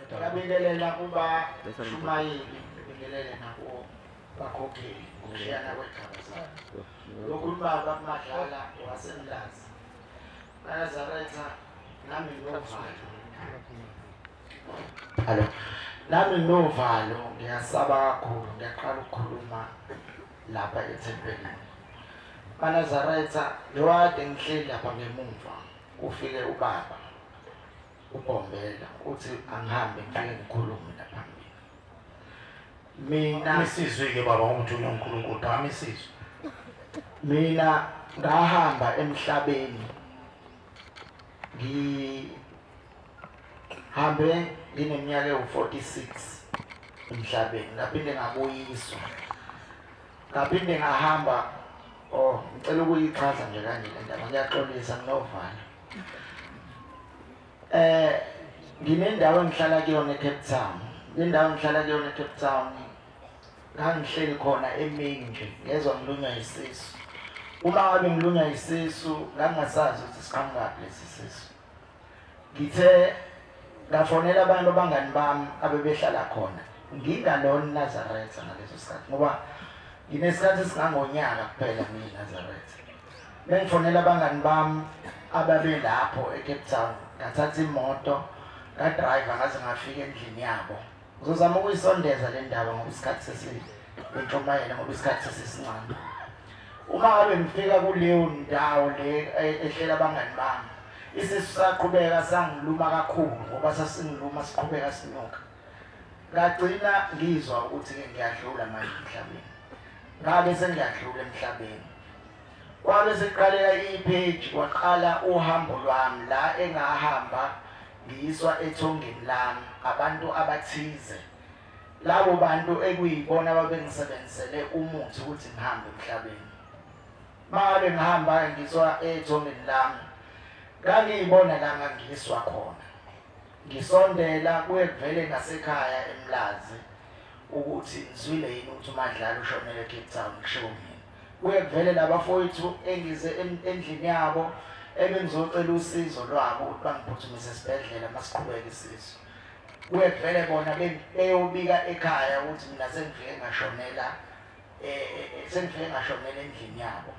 Ngiyabingelela kuba shumayeli ngibingelele nabo bakhokheli ngokushiyana kwegaba zabo. Lokhu ubaba kumadlala wasemlazi. Bayazaretha nami nginovalo. Hello. Nami nginovalo ngiyasaba kakhulu ngiyaqala ukukhuluma lapha ethempelini. Banazaretha lo ade ngihleli lapha ngemumva ufike ubaba. uBombela uthi angihambe ngifike ngikhulume la phambili mina isizwe-ke baba ngomthunywa unkulunkulu phakama isizwe mina ngahamba emhlabeni ngihambe ngineminyaka ewu-46 emhlabeni ngaphinde ngabuyiswa ngaphinde ngahamba oh ngicela ukuyichaza nje kanje le ndaba ngiyaxolisa nginovalo Eh nginendawo engihlala kuyona eCape Town. Indawo engihlala kuyona eCape Town. Ngangihleli khona emini nje ngezwa ngilunywa isisu. Uma ngabe ngilunywa isisu ngangasazi ukuthi siqhamukapi lesi sisu. Ngithe ngafonela abantu abangani bami abebehlala khona. Ngingalona Nazareth ngaleso sikhathi ngoba nginesikhathi singangonyaka kuphela mina Nazareth. Bengifonela abangani bami ababelapho eCape Town ngathatha imoto ngadrive ngaze ngafika endlini yabo ngizozama ukuyisondeza le ndaba ngoba isikhathi sesintshumayela ngoba isikhathi sesisincane uma ngabe ngifika kuleyo ndawo le e-, ehlela abangani bami isisu saqhubeka sangiluma kakhulu ngoba sasingiluma siqhubeka sinuka ngagcina ngizwa ukuthi-ke ngiyadlula manje emhlabeni ngabe sengiyadlula emhlabeni kwabe sekuqaleka ipage kwaqala uhambo lwami la engahamba ngiyiswa ethongeni lami abantu abathize labo bantu ekuyibona babengisebenzisele umuthi ukuthi ngihambe emhlabeni makabe ngihamba ngizwa ethongeni lami ngangiyibona la ngangiyiswa khona Ngisondela kuye kuvele nasekhaya eMlazi ukuthi ngizwile yini ukuthi uMadlala ushonele eCape Town kushiwo mina. Kuye kuvele labafowethu engize endlini yabo ebengizocela usizo lwabo ukuthi bangiphuthumise esibhedlela masiqhubeke isizo. Kuye kuvele bona beyobika ekhaya ukuthi mina sengifike ngashonela eh, eh, eh sengifike ngashonela endlini yabo.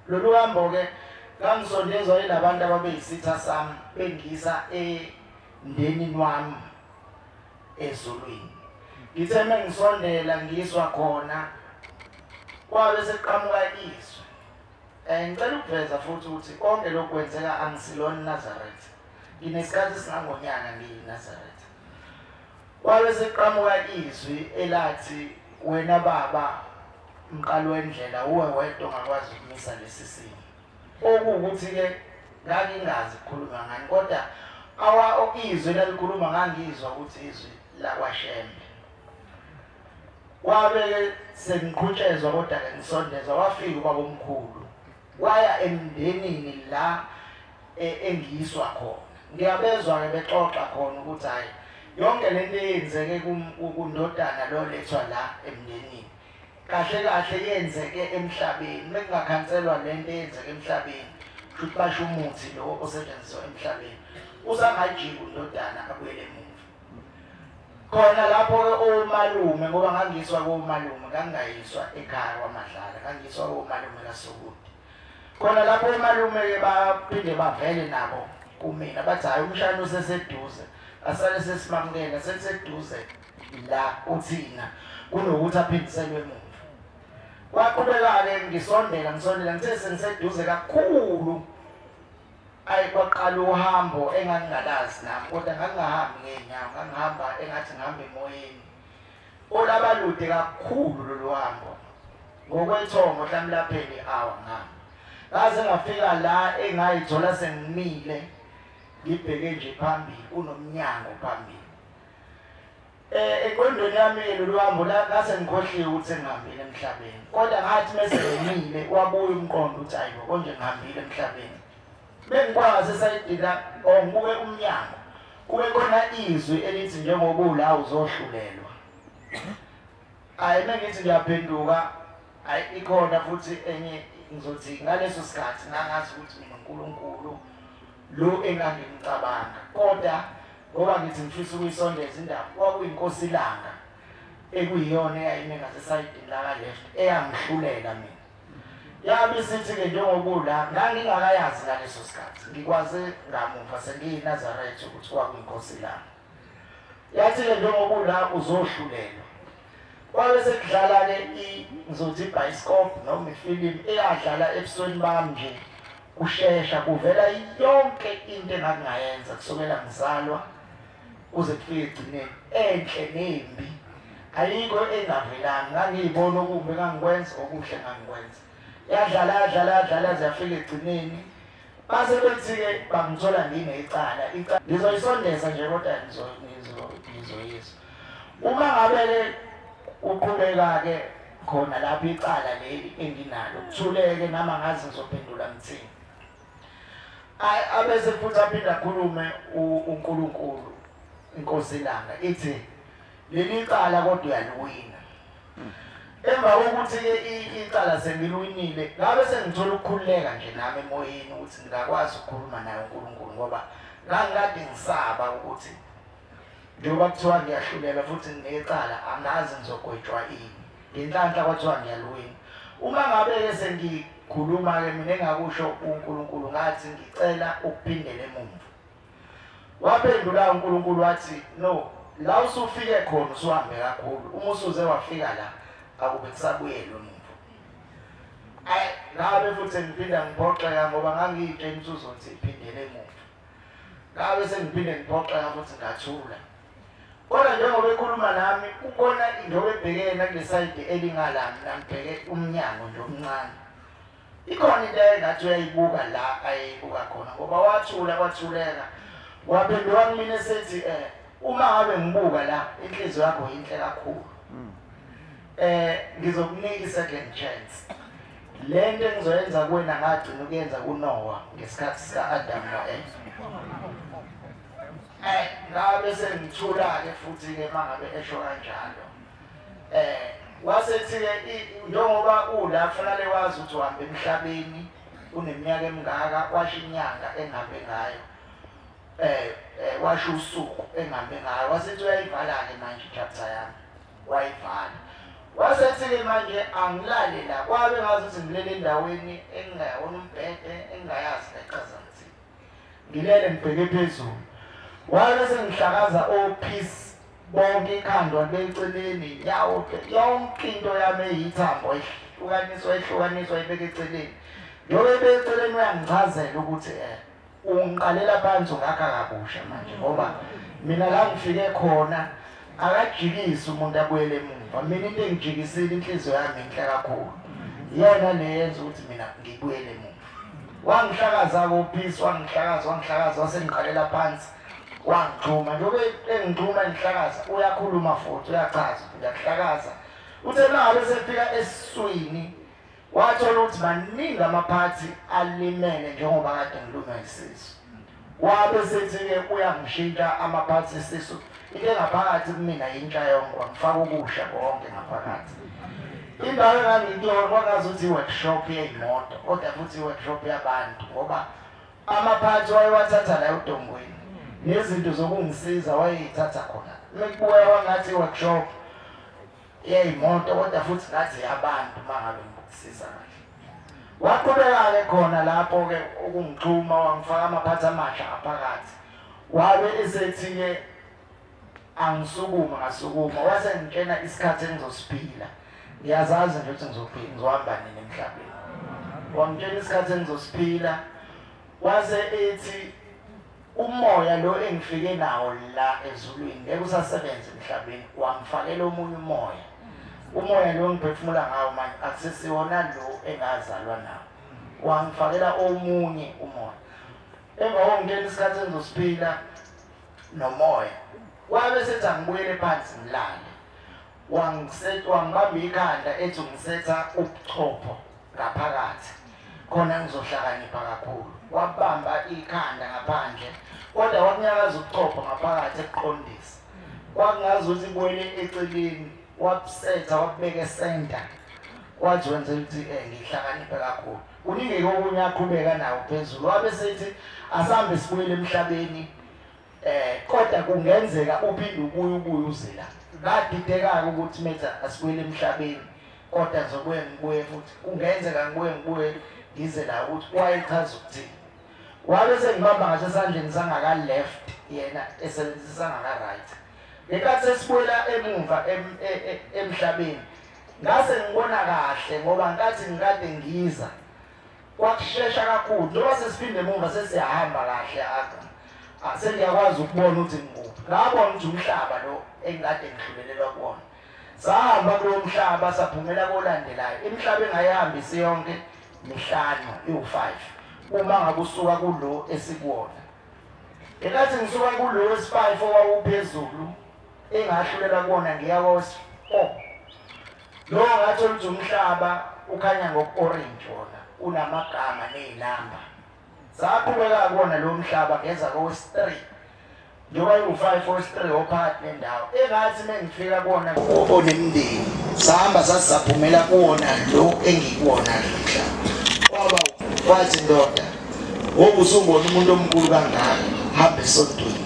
Lolu hambo-ke ngangisondezwa yilabantu ababeyisitha sami bengisa emndenini wami ezulwini ngithe uma ngisondela ngiswa khona kwabe sekuqhamuka izwi um ngicela ukuveza futhi ukuthi konke lokhu kwenzeka angisilona inazaretha nginesikhathi singangonyana ngiyi-nazaretha Kwabe sekuqhamuka izwi elathi wena baba mqalo wendlela uwe wedwa ongakwazi ukumisa lesi simo. Okuwukuthi ke ngangingazi ukukhuluma ngani kodwa awa okizwe lalikhuluma ngangizwa ukuthi izwi lakwashembe kwabe sengiqhutshezwa kodwa ke ngisondezwa wafika ubabomkhulu Waya emndenini la e, engiyiswa khona. Ngiyabezwa ke bexoxa khona ukuthi hayi yonke lento eyenzeke kundodana lo lethwa la emndenini. Kahle kahle yenzeke emhlabeni, bekungakhanselwa lento eyenzeke emhlabeni. Futhi basho umuthi lo osetshenziswa emhlabeni. Usangajika undodana abuyele emuva. khona lapho-ke owomalume ngoba ngangiyiswa kowomalume ngangingayiswa ekhaya kwamadlala ngangiyiswa kowomalume kasukude khona lapho omalume-ke baphinde bavele nabo kumina bathi hhayi umshana useseduze asale sesimamukela seliseduze la uthina kunokuthi aphindiselwe emuva kwaqhubeka-ke ngisondela ngisondela ngithe sengiseduze kakhulu ayi kwaqala uhambo engangingalazi nami kodwa ngangingahambi ngey'nyawo ngangihamba engathi ngihamba emoyeni olaba lude kakhulu lolu hambo ngokwethongo hlami lapheli awa ngami ngaze ngafika la engayithola sengimile ngibheke nje phambili unomnyango phambili Eh eqondweni yami lolu hambo la ngase ngikhohliwe ukuthi ngihambile emhlabeni. Kodwa ngathi mese ngenile wabuya umqondo ukuthi ayibo konje ngihambile emhlabeni. Bengikwazi sayidila or ngibuke umnyango. Kube khona izwi elithi njengoba ula uzohlulelwa. Ayi mengithi ngiyaphenduka ayi ikhona futhi enye ngizothi ngaleso sikhathi ngangazi ukuthi mina uNkulunkulu lo engangimcabanga kodwa ngoba ngithi ngifisa ukuyisondeza indaba kwakuyinkosi ilanga ekuyiyona eyayime ngasesayidini lakaleft eyangihlulela mina yabe sithi-ke njengokula ngangingakayazi ngaleso sikhathi ngikwaze ngamuva sengiyinazaretha ukuthi kwakuyinkosi ilanga yathi-ke njengoba ula uzohlulelwa kwabe sekudlala-ke ngizothi ibhayisikobhu noma ifilimu eyadlala ebusweni bami nje kushesha kuvela yonke into engangingayenza kusukela ngizalwa kuze kufike egcineni enhle nembi ayikho engavelanga ngangiyibona okumbi engangikwenza okuhle ngangikwenza yadlala yadlala yadlala ziyafika egcineni Base bethi-ke bangithola nginecala, icala ngizoyisondeza nje kodwa ngizoyisa. Uma ngabe-ke uqhubeka-ke khona lapho icala leli enginalo, kuthuleke nami angazi ngizophendula ngithini. Abese futhi aphinde akhulume uNkulunkulu, iNkosi iLanga, ithi, leli cala kodwa uyaliwina emva kokuthi-ke icala sengiliwinile ngabe sengithola ukukhululeka nje nami emoyeni ukuthi ngingakwazi ukukhuluma naye unkulunkulu ngoba ngangikade ngisaba ukuthi njengoba kuthiwa ngiyahlulela futhi nginecala angazi ngizogwetshwa ini ngenhlanhla kwathiwa ngiyaliwina uma ngabe-ke sengikhuluma-ke mina engakusho unkulunkulu ngathi ngicela ukuphindela emuva Waphendula uNkulunkulu wathi, No, la usufike khona usuhambe kakhulu. Uma usuze wafika la, akube kusabuyela umuntu. Ay, ngabe futhi ngiphinda ngiphoxeka ngoba ngangiyitshela ukuthi uzothi iphindele emuva. Ngabe sengiphinde ngiphoxeka futhi ngathula. Kodwa njengoba ekhuluma nami kukhona into ebhekene ngesayidi elingala mina ngibheke umnyango nje omncane. Ikhona into engathi uyayibuka la ayeyibuka khona ngoba wathula kwathuleka waphenduka kumina esethi eh uma ngabe ngibuka la inhliziyo yakho yinhle kakhulu hmm. eh ngizokunika i-second chance le nto engizoyenza kuwena ngagcina ukuyenza kunowa ngesikhathi sika-adamu no-eva eh ngabe sengithula-ke futhi-ke uma ngabe esho kanjalo eh wasethi-ke njengoba ula kufanele wazi ukuthi uhamba emhlabeni uneminyaka emingaka washo inyanga engihambe ngayo eh, eh washo usuku engihambe ngayo wasethi uyayivala-ke manje ichapter yami wayivala wasethi-ke manje angilale la kwabe ngazi ukuthi ngilele endaweni engingayona umbhede engingayazi nechaza ngithini ngilele ngibheke phezulu wabe sengihlakaza o-peace bonke ikhanda libeceleni yawo yonke into yami eyithambo ihlukaniswa ihlukaniswa ibeke eceleni yobe beceleni uyangichazela ukuthi eh ungiqalela phansi ungakha kabusha manje ngoba mina la ngifike khona akajikisi umuntu abuyele emuva mina into engijikisile inhliziyo yami inhle kakhulu iyona leyenza ukuthi mina ngibuyele emuva wangihlakaza kophisi wangihlakaza wangihlakaza wasengiqalela phansi wangixhuma njengoba engixhuma engihlakaza uyakhuluma futhi uyachaza uyakuhlakaza uthe manje sefika esiswini wathola ukuthi maningi amaphathi alimele njengoba kade ngilunga isisu wabe sethi-ke uyangishintsha amaphathi esisu into engaphakathi kumina yintsha yonke wangifaka ukusha konke ngaphakathi indawo engangikuyona kwakazi ukuthi i-workshop yeyimoto kodwa futhi i-workshop yabantu ngoba Amaphansi wayewathatha la udongweni nezinto zokungisiza wayeyithatha khona. Mekubuya wangathi workshop yeyimoto kodwa futhi ngathi yabantu mangabe ngikusiza kahle. Waqhubeka-ke khona lapho-ke ukungixhuma wangifaka amaphansi amasha aphakathi. Wabe esethi-ke angisukuma ngasukuma wase ngitshena isikhathi engizosiphila ngiyazazi nje ukuthi ngizophila ngizohamba nini emhlabeni wangitshena isikhathi engizosiphila wase ethi umoya lo engifike nawo la ezulwini ngeke usasebenza emhlabeni wangifakela omunye umoya umoya lo ngiphefumula ngawo manje akusesiwona lo engazalwa nawo wangifakela omunye umoya emva kokungena isikhathi engizosiphila nomoya wabe sethi angibuyele phansi ngilale wangibamba ikhanda ethi ungisetha ubuchopho ngaphakathi khona ngizohlakanipha kakhulu wabamba ikhanda ngaphandle kodwa wakunyakaza ubuchopho ngaphakathi ekuqondisa kwakungazi ukuthi ibuyele eceleni wabusetha wabubeka esenta wathi wenza ukuthi um ngihlakaniphe kakhulu Kuningi kokunye aqhubeka nawo phezulu wabe sethi asambe sibuyele emhlabeni eh kodwa kungenzeka uphinde ubuye ubuye uzela badidekaka ukuthi metha asibuyele emhlabeni kodwa ngizobuye ngibuye futhi kungenzeka ngibuye ngibuye ngize la ukuthi wayechaza ukuthini wabe sengibamba ngaso esandleni sangaka left yena esebenzisa ngaka right ngenkathi sesibuyela emumva e, e, emhlabeni Ngase ngibona kahle ngoba nkathi ngikade ngiza kwakushesha kakhulu njengoba sesiphinde emuva sesiyahamba kahle aga ah, sengiyakwazi ukubona ukuthi ngikuphi ngabona ukuthi umhlaba lo engikade ngidlulelelwa kuwona sahamba kulo mhlaba saphumela kolandelayo imihlaba engayihambi isiyonke mihlanu iwu-five uma ngabe usuka kulo esikuwona ngenkathi ngisuka kulo wesi-five owawuphezulu engahlulela kuwona ngiyawos o oh. lo ngathi oluthi umhlaba ukhanya ngoku-orange wona unamagama ney'namba saphumeka kuwona lo mhlaba ngeza kowesi-three njengoba iwu-five owesi-three ophakathi nendawo engathi uma ngifika kuwona onemndeni sahamba sasisaphumela kuwona lo engikuwona lo mhlaba kwaba kwathi ndoda Ngoba usungona umuntu omkhulu kangaka hambe esontweni.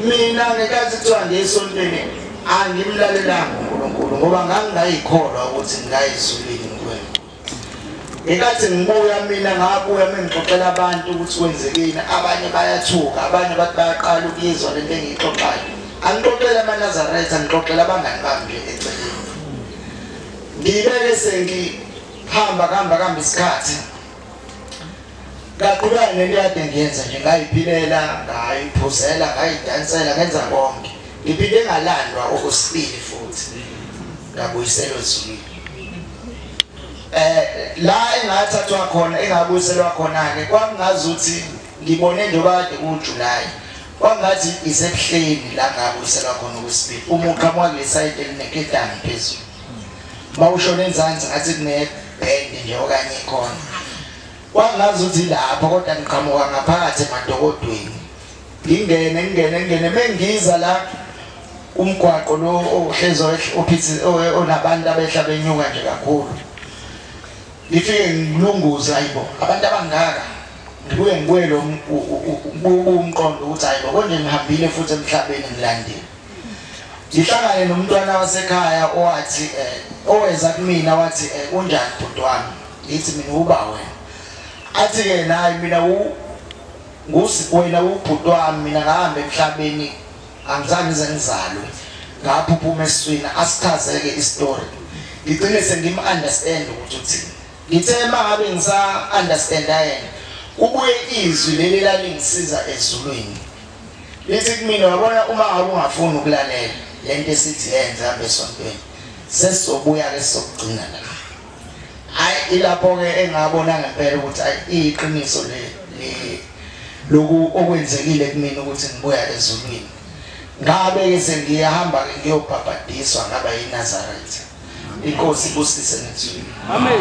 Mina ngekathi kuthiwa ngesontweni angimlalelanga uNkulunkulu ngoba ngangingayikholwa ukuthi ngingayizulile ngikwenza. Ngekathi ngibuya mina ngabuya mengixoxela abantu ukuthi kwenzekeni abanye bayathuka abanye bathi bayaqala ukuyizwa lento engiyixoxayo. Angixoxela amaNazaretha ngixoxela abangani bami nje eceleni. Ngibeke sengi Hamba hamba hamba isikhathi. Ngaqhubeka nento yade ngiyenza nje ngayiphilela, ngayiphuzela, ngayidansela, ngenza konke. Ngiphinde ngalandwa okwesibili futhi. Ngabuyisela ezulwini. Eh la engathathwa khona engabuyiselwa khona ke kwakungazuthi ngibone nje kade kuJuly. Kwangathi isebuhleni la ngabuyiselwa khona okwesibili. Umuqhamuka lesayidi elineketani phezulu. mawushona enzansi ngathi kunebhendi nje okanye ikhona kwangazi ukuthi lapho kodwa ngiqhamuka ngaphakathi emadokodweni ngingene ngingene ngingene mengiza la umgwaqo lo ohlezi ophithi onabantu abehla benyuka nje kakhulu ngifike ngilunguza ayibo abantu abangaka ngibuye ngibuye lo umqondo ukuthi ayibo konje ngihambile futhi emhlabeni ngilandile ngihlangane nomntwana wasekhaya owathi eh, oweza kumina wathi eh, unjani bhuti wami ngithi mina uba wena athi-ke naye mina wena ubhuti wami mina ngahambe emhlabeni angizange ngize ngizalwe ngapho uphuma esiswini asichazeke isitori ngigcine sengim-understand ukuthi uthini ngithe uma ngabe ngisa-understanda yena kubuye izwi leli lalingisiza ezulwini Lithi kumina wabona uma ngabe ungafuni ukulalela lento esithi yenze hamba esontweni sesizobuya ke sokugcina la. Hayi ilapho ke engabona ngempela ukuthi ayi iqiniso le le loku okwenzekile kumina ukuthi ngibuya ezulwini. Ngabe ke sengiyahamba ke ngiyobhabhadiswa ngaba yiNazareth. Inkosi ibusise ngizwile. Amen.